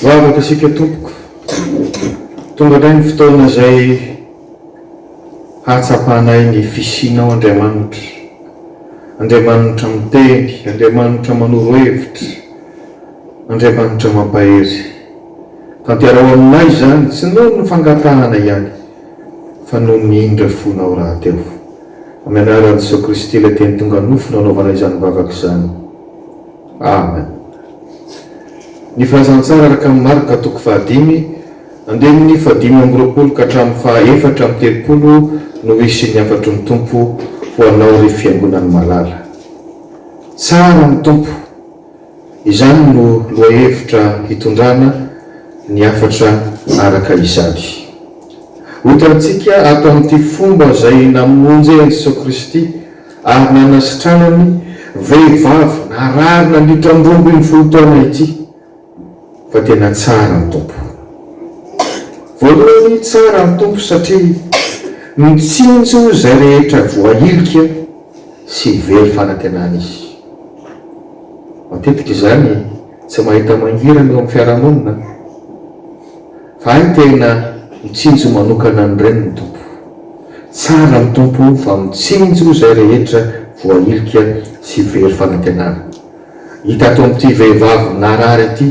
Vavaka isika tompoko, tonga indray ny fotoana izay hahatsapanay ny fisianao Andriamanitra, Andriamanitra miteny, Andriamanitra manoro hevitra, Andriamanitra mampahery. Tanterao aminay izany tsy noho ny fangatahana ihany fa noho ny indra fonao rahateo. Amin'ny anaran'i Jesoa Kristy ilay teny tonga nofo no anaovana izany vavaka izany. Amen. Ny filazantsara araka an'i Marka toko fahadimy andininy fahadimy amby roapolo ka hatramin'ny faha efatra amby telopolo no ho hisian'ny hafatry ny Tompo ho anao ry fiangonan'i Malala. Tsara ny Tompo. Izany no lohahevitra hitondrana ny hafatra araka izany. Hohitantsika ato amin'ity fomba izay namonjy an'i Jesoa Kristy ary nanasitranany vehivavy narary nandritra ny roa ambin'ny folo taona ity. Fa tena tsara ny Tompo. Voalohany tsara ny Tompo satria mitsinjo izay rehetra voahilika sy very fanantenana Izy. Matetika izany tsy mahita mangirana eo amin'ny fiarahamonina fa hay tena mitsinjo manokana an'ireny ny Tompo. Tsara ny Tompo fa mitsinjo izay rehetra voahilika sy very fanantenana. Hita tao amin'ity vehivavy narary ity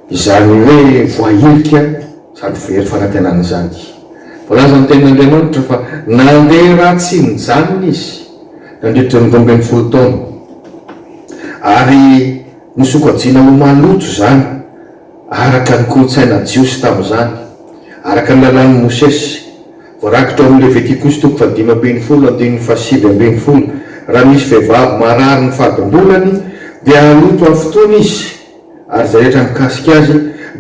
izany hoe voahilika sady very fanantenana izany. Voalaza amin'ny Tenin'Andriamanitra fa nandeha raha tsy nijanona izy nandritra ny roa ambin'ny folo taona, ary nosokajiana ho maloto izany araka ny kolontsaina jiosy tamin'izany, araka ny Lalàn'i Mosesy. Voarakitra ao amin'ny Levitikosy toko fahadimy ambin'ny folo andininy fahasivy ambin'ny folo, Raha misy vehivavy marary ny fadim-bolany, dia haloto afotoana izy, ary izay rehetra mikasika azy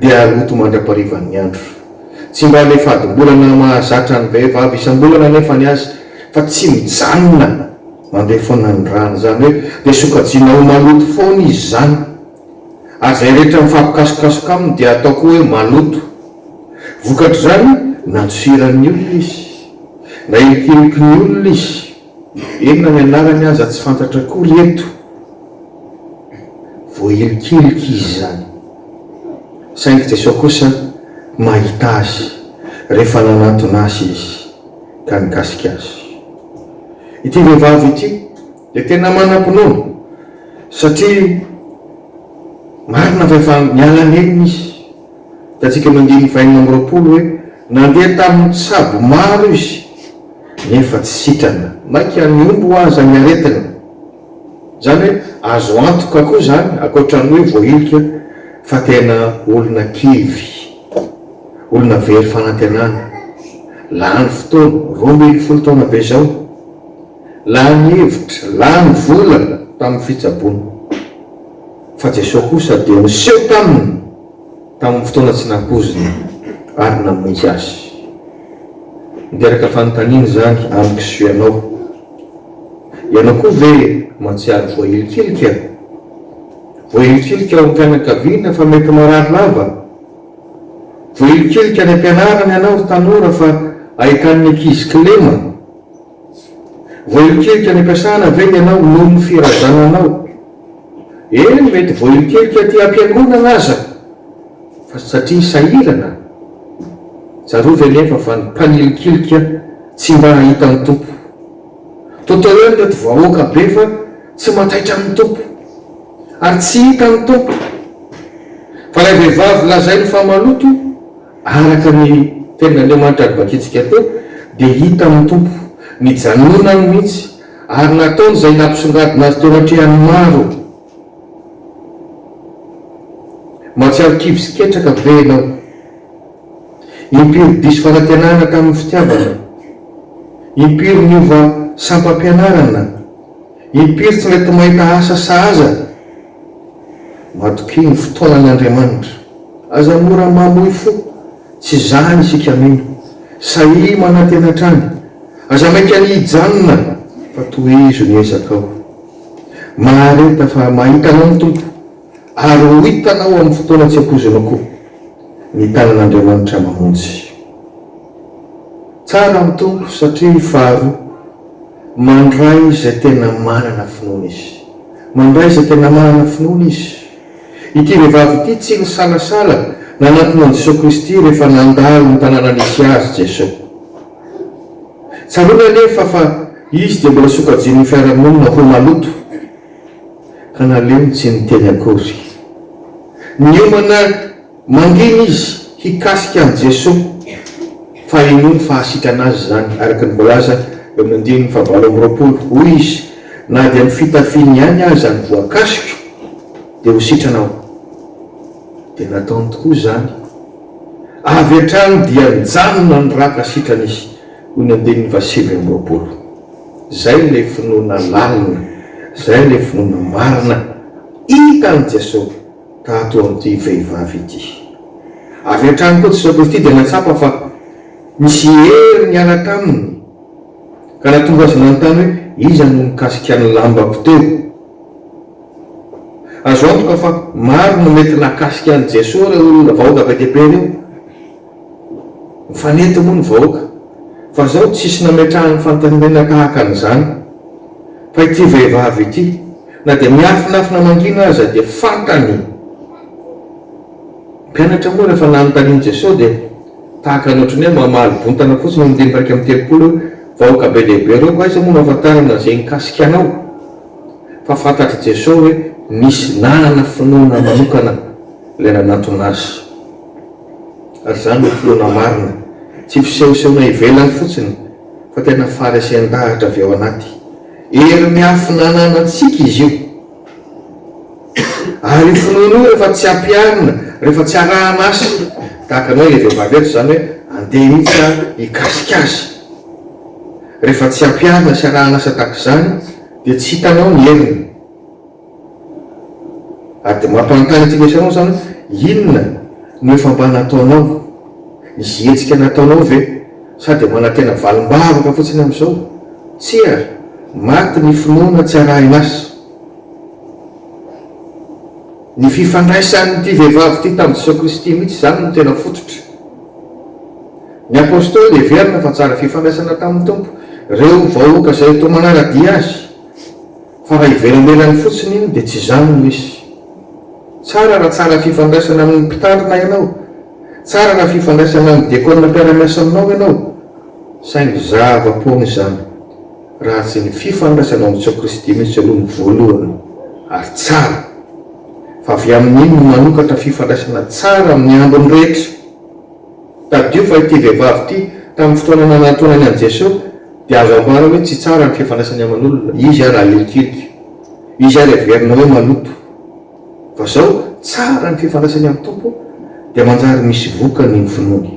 dia haloto mandra-parivan'ny andro. Tsy mba ilay fadim-bolana mahazatra an'ny vehivavy isam-bolana anefa ny azy, fa tsy mijanona, mandeha foana ny rany, izany hoe dia sokajiana ho maloto foana izy izany. ary izay rehetra mifampikasokasoka aminy dia atao koa hoe maloto. Vokatr'izany, nantsiran'ny olona izy, nahilikiliky ny olona izy, eny na ny anarany aza tsy fantatra akory eto. Voahilikiliky izy izany, saingy Jesoa kosa mahita azy rehefa nanatona azy izy ka nikasika azy. Ity vehivavy ity. Dia tena manam-pinoana satria marina fa efa miala nenina izy. Hitantsika amin'ny andininy fahenina amby roapolo hoe, Nandeha tamin'ny tsabo maro izy, nefa tsy sitrana. Mainka nihombo ho aza ny aretiny. Izany hoe azo antoka koa izany, ankoatran'ny hoe voahilika, fa tena olona kivy, olona very fanantenana. Lany fotoana, roa ambin'ny folo taona be izao. Lany hevitra, lany vola tamin'ny fitsaboana. Fa Jesoa kosa dia niseho taminy tamin'ny fotoana tsy nampoizina ary namonjy azy. Miteraka fanontaniana izany amiko sy ianao. Ianao koa ve mahatsiaro voahilikilika? Voahilikilika ao am-pianakaviana fa mety marary lava? Voahilikilika any am-pianarana ianao ry tanora fa ahitan'ny ankizy kilema? Voahilikilika any am-piasana ve ianao noho ny firazananao? Eny, mety voahilikilika aty am-piangonana aza, fa satria sahirana? Tsarovy anefa fa ny mpanilikilika tsy mba hahita ny Tompo. Toa teo eo ireto vahoaka be fa tsy mataitra amin'ny Tompo, ary tsy hita ny Tompo. Fa ilay vehivavy lazainy fa maloto, Araka ny Tenin'Andriamanitra novakintsika teo dia hita amin'ny Tompo, nijanonany mihitsy ary nataony izay nampisongadina azy teo atrehan'ny maro. Mahatsiaro kivy sy ketraka ve ianao? Impiry diso fanantenana tamin'ny fitiavana? Impiry niova sampam-pianarana? Impiry tsy mety mahita asa sahaza ny matokia ny fotoanan' Andriamanitra. Aza mora mamoy fo, tsy izany isika mino. Sahia manantena hatrany. Aza maika ny hijanona fa tohizo ny ezakao. Mahareta fa mahita anao ny Tompo. Ary ho hitanao amin'ny fotoana tsy ampoizina koa ny tanan'Andriamanitra mamonjy. Tsara ny Tompo satria faharoa, mandray izay tena manana finoana Izy. Mandray izay tena manana finoana Izy. Ity vehivavy ity tsy nisalasala nanatona an'i Jesoa Kristy rehefa nandalo ny tanàna nisy azy Jesoa. Tsaroany anefa fa Izy dia mbola sokajian'ny fiarahamonina ho maloto. Ka naleony tsy niteny akory. Niomana mangina izy hikasika an'i Jesoa, fa henoiny fa hahasitrana azy izany, araka ny voalaza eo amin'ny andininy fahavalo amby roapolo. Hoy izy, Na dia ny fitafiany ihany aza no voakasiko, dia ho sitrana aho. Dia nataony tokoa izany. Avy hatrany dia nijanona niraka sitrana izy. Hoy ny andininy faha sivy amby roapolo, Izay ilay finoana lalina, izay ilay finoana marina hita an'i Jesoa tato eo amin'ity vehivavy ity. Avy hatrany koa Jesoa Kristy dia nahatsapa fa nisy hery niala taminy ka nahatonga azy nanontany hoe, Iza no nikasika ny lambako teo? Azo antoka fa maro no mety nahakasika an'i Jesoa ireo olona vahoaka be dia be ireo. Mifanety moa ny vahoaka fa zao tsisy nametrahany fantaninena tahaka an'izany fa ity vehivavy ity na dia miafinafina mangina aza dia fantany mpianatra moa rehefa nanontanian'i Jesosy dia tahaka ny ohatran'ny hoe mamaly bontana fotsiny io andininy iraika amby telopolo io vahoaka be dia be ireo koa aiza moa no ahafantarana izay mikasika anao fa fantatr'i Jesosy hoe nisy nanana finoana manokana ilay nanantona azy ary izany no filoana marina, tsy fisehosehoana ivelany fotsiny fa tena faharesen-dahatra avy ao anaty. Hery miafina ananantsika izy io. Ary io finoana io rehefa tsy ampiharina, rehefa tsy arahan'asa, tahaka anao ilay vehivavy eto izany hoe andeha mihitsy aho hikasika azy, rehefa tsy ampiharina sy arahan'asa tahaka izany dia tsy hitanao ny heriny. Ary dia mampanontany ity lesy anao izany, inona no efa mba nataonao? Misy hetsika nataonao ve? Sa dia manantena valim-bavaka fotsiny amin'izao? Tsia, maty ny finoana tsy arahin'asa. Ny fifandraisan'ity vehivavy ity tamin'i Jesoa Kristy mihitsy izany no tena fototra. Ny Apostoly heverina fa tsara fifandraisana tamin'ny Tompo ireo vahoaka izay toa manara-dia azy. Fa raha ivelanelany fotsiny iny dia tsy izany no izy. Tsara raha tsara fifandraisana amin'ny mpitandrina ianao, tsara raha fifandraisana amin'ny diakona mpiara-miasa aminao ianao, saingy zava-poana izany raha tsy ny fifandraisanao amin'i Jesoa Kristy mihitsy aloha no voalohany ary tsara, fa avy amin'iny no manokatra fifandraisana tsara amin'ny ambiny rehetra. Tadidio fa ity vehivavy ity, tamin'ny fotoana nanantonany an'i Jeso, dia azo ambara hoe tsy tsara ny fifandraisany aman'olona. Izy ary ahilikilika. Izy ary heverina hoe maloto. Fa zao, tsara ny fifandraisany amin'ny Tompo, dia manjary misy vokany ny finoany.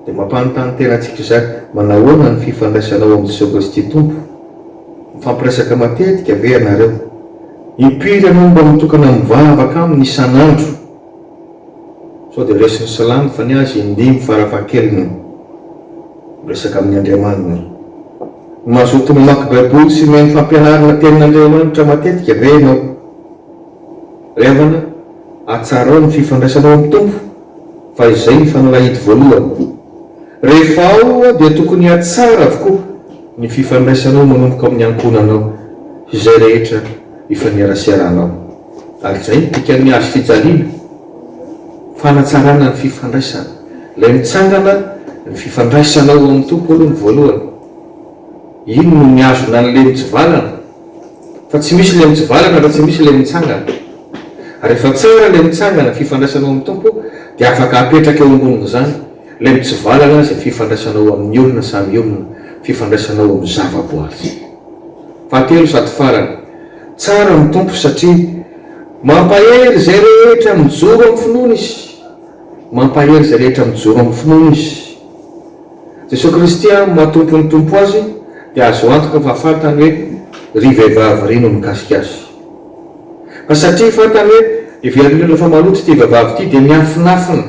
Dia mampanontany tena antsika izany, manahoana ny fifandraisanao amin'i Jeso Kristy Tompo? Mifampiresaka matetika ve ianareo? Impiry ianao no mba mitokana mivavaka Aminy isan'andro? Sao dia resin'i Salamo fa ny azy indimy farafahakeliny miresaka amin'ny Andriamaniny. Mazoto mamaky Baiboly sy mihaino fampianarana Tenin'Andriamanitra matetika ve ianao? Ry havana, hatsarao ny fifandraisanao amin'ny Tompo fa izay ny fanalahidy voalohany. Rehefa ao dia tokony hatsara avokoa ny fifandraisanao manomboka amin'ny ankohonanao sy izay rehetra ifaneraseranao. Ary izay no dikan'ny azo fijaliana, fanatsarana ny fifandraisana. Ilay mitsangana ny fifandraisanao ao amin'ny Tompo aloha ny voalohany. Iny no mihazona an'ilay mitsivalana. Fa tsy misy ilay mitsivalana raha tsy misy ilay mitsangana. Ary rehefa tsara ilay mitsangana, fifandraisanao amin'ny Tompo, dia afaka apetraka eo ambonin'izany ilay mitsivalana izay fifandraisanao amin'ny olona samy olona, fifandraisanao amin'ny zavaboary. Fahatelo sady farany. Tsara ny Tompo satria mampahery izay rehetra mijoro amin'ny finoany Izy. Mampahery izay rehetra mijoro amin'ny finoany Izy. Jesoa Kristy amin'ny maha Tompon'ny Tompo Azy dia azo antoka fa fantany hoe ry vehivavy ry no mikasika Azy. Fa satria fantany hoe heveriny indrindra fa maloto ity vehivavy ity dia miafinafina.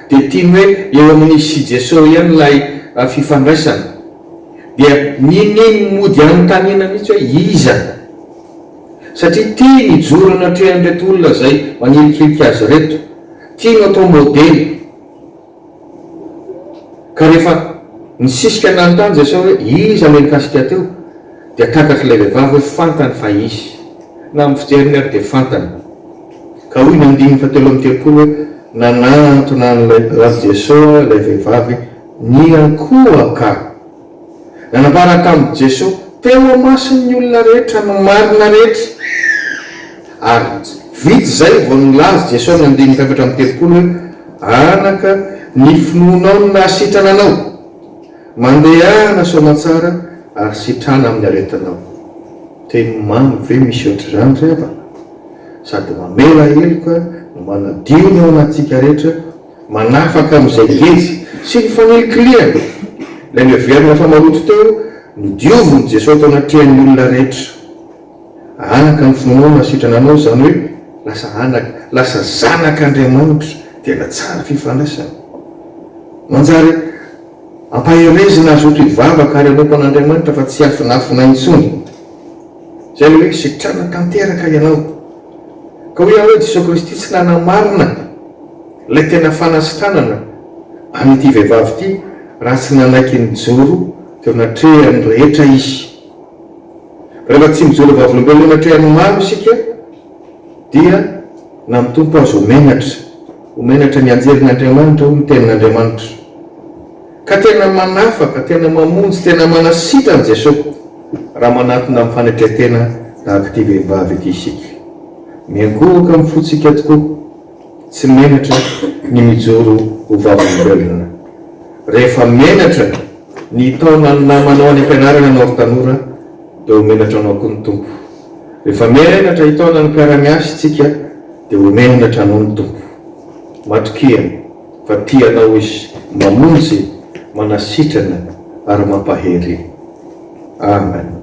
dia tiany hoe eo amin'izy sy Jeso ihany ilay fifandraisana. Dia niniany mody anontaniana mihitsy hoe iza? Satria tiany hijoro eny an-trehan'ireto olona izay manilikilika azy ireto. Tiany ho atao modely. Ka rehefa nisisika nanontany Jeso hoe iza ilay nikasika teo? Dia takatr'ilay vehivavy hoe fantany fa izy. Na amin'ny fijeriny ary dia fantany. Ka hoy ny andininy fahatelo amby telopolo hoe, Nanantona an'ilay Ratsy Jesoa ilay vehivavy niankohoka. Nanambara tamin'i Jesoa teo imason'ny olona rehetra ny marina rehetra. Ary vita izay vao nilaza Jesoa amin'ny andininy fahefatra amby telopolo hoe, Anaka, ny finoanao no nahasitrana anao. Mandehana soamatsara ary sitrana amin'ny aretinao. Teny mamy ve misy ohatr'izany ry havana? sady mamela heloka no manadio ny ao anatintsika rehetra, manafaka amin'izay ngeja sy ny fanilikilihana. Ilay niheverina fa maloto teo, nodiovin'i Jesoa tao anatrehan'ny olona rehetra. Anaka ny finoana sitrana anao, izany hoe lasa anaka, lasa zanak'Andriamanitra. Tena tsara fifandraisana. Manjary ampaherezina hazoto hivavaka ary hanompo an'Andriamanitra fa tsy hiafinafina intsony. Izay ilay hoe sitrana tanteraka ianao. Ka hoy aho hoe Jesoa Kristy tsy nanamarina ilay tena fanasitranana an'ity vehivavy ity raha tsy nanaiky nijoro teo anatrehan'ny rehetra Izy. Fa rehefa tsy mijoro vavolombelona eo anatrehan'ny maro isika dia na ny Tompo aza ho menatra. Ho menatra mianjera ny Andriamanitra hoy ny tenin'Andriamanitra. Ka tena manafaka, tena mamonjy, tena manasitrana Jesoa raha manatona amin'ny fanetren-tena tahaka ity vehivavy ity isika. Miankohoka amin'ny fontsika tokoa, tsy menatra ny mijoro ho vavolombelona. Rehefa menatra ny hitaona ny namanao any am-pianarana ianao ry tanora dia ho menatra anao koa ny Tompo. Rehefa menatra hitaona ny mpiara-miasa isika dia ho menatra anao ny Tompo. Matokia. Fa tia anao izy, mamonjy, manasitrana ary mampahery. Amen.